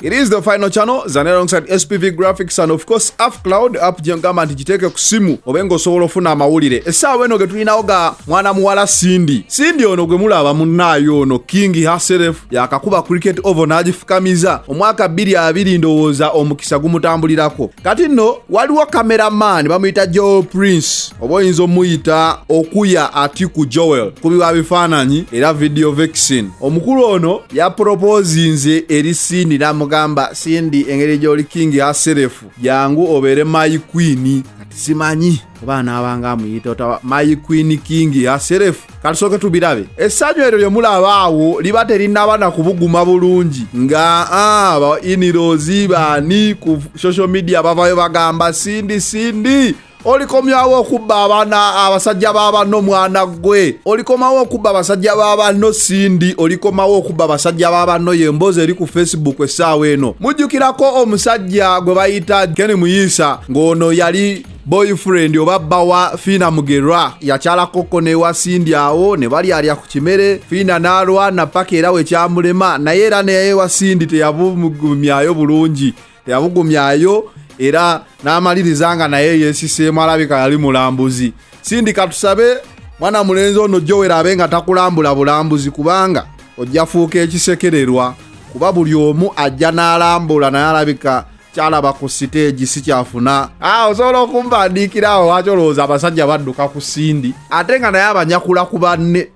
It is the final channel zane alongside SPV Graphics and of course App Cloud app gyengamba nti giteeke ku simu obe ng'osobola ofuna amawulire essaawa eno getulinawo ga mwana muwala Cindy Cindy ono gwe mulaba munnaayo ono King herself yakakuba cricket oval n'agifukamiza omwaka bbiri abiri ndowooza omukisa gumutambulirako kati nno waliwo cameraman bamuyita Joe Prince oba oyinza omuyita okuya atiku joel kubiwa bifaananyi era video vexin omukulu ono yapropoozinze eri sindi n'amugamba sindi engeri gy'oli kingi aserefu jangu obeere mayi kwini kati simanyi oba anaabanga amuyita otaba mayi kwini kingi aserefu katusooke tubirabe essanyu eryo lye mulaba awo liba terinaba na kubuguma bulungi nga ah, ba inirozi baani ku social media bavayo bagamba sindi sindi olikomyawo okubba abaana abasajja babanno mwana gwe olikomawo okubba abasajja babanno sindi olikomawo okubba abasajja babanno yemboozi eri ku facebook essaawa eno mujjukirako omusajja gwe bayita keni muyiisa ng'ono yali boyfriend oba bba wa fiina mugerwa yakyalakokko newa sindi awo ne balyalya ku kimere fiina n'alwana paka era wekyamulema naye era neyewa sindi teyabumugumyayo bulungi yabugumyayo era n'amaliriza nga naye yeesiseemu alabika yali mulambuzi sindi katusabe mwana mulenzi ono jowera abe nga takulambula bulambuzi kubanga ojja fuuka ekisekererwa kuba buli omu ajja n'alambula naye alabika kyalaba ku siteegi si kyafuna ah, osobola okumbandiikira awo lwaki olowooza abasajja badduka ku sindi ate nga naye abanyakula ku banne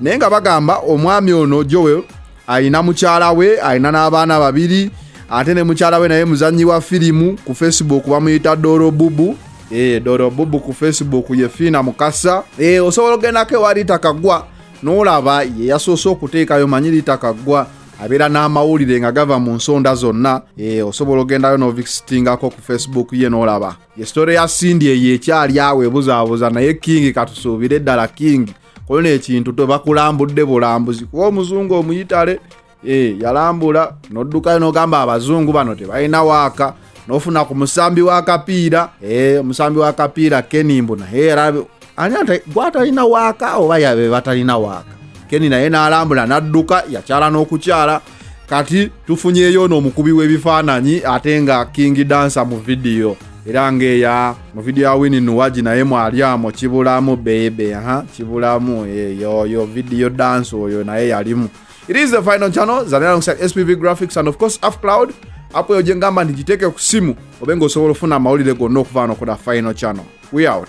naye nga bagamba omwami ono joel alina mukyala we alina n'abaana babiri ate ne mukyala we naye muzannyi wa firimu ku facebook bamuyita doro bubu e, eh, doro bubu ku facebook ye fiina mukasa e, osobola ogendako ewa rita kagwa n'olaba ye yasoose okuteekayo manyi rita kagwa abeera n'amawulire nga gava mu nsonda zonna e, osobola ogendayo n'ovisitingako ku facebook ye n'olaba ye sitore ya sindi eyo ekyali awo ebuzaabuza naye king katusuubire ddala king kuba no ekintu tebakulambudde bulambuzi kuba omuzungu omuyitale eh, yalambula noddukayo nogamba abazungu bano tebalina waaka nofuna ku musambi wakapiira eh, omusambi wakapiira kenimbu naye era ani gwatalina waaka oba yabe batalina waaka keni naye n'alambula n'adduka yakyala n'okukyala kati tufunyeyo ono omukubi w'ebifaananyi ate nga king dansa mu vidiyo era ngaeya mu vidiyo ya wini nuwagi naye mwalyamu kibulamu bebe ha kibulamu eyoyo vidiyo dansi oyo naye yalimu it is the final channel zalinakusat spv graphics and of course af cloud apo eyo gyengamba nti giteeke ku simu obe nga osobola ofuna amawulire gonna okuvaano kuda final channel we out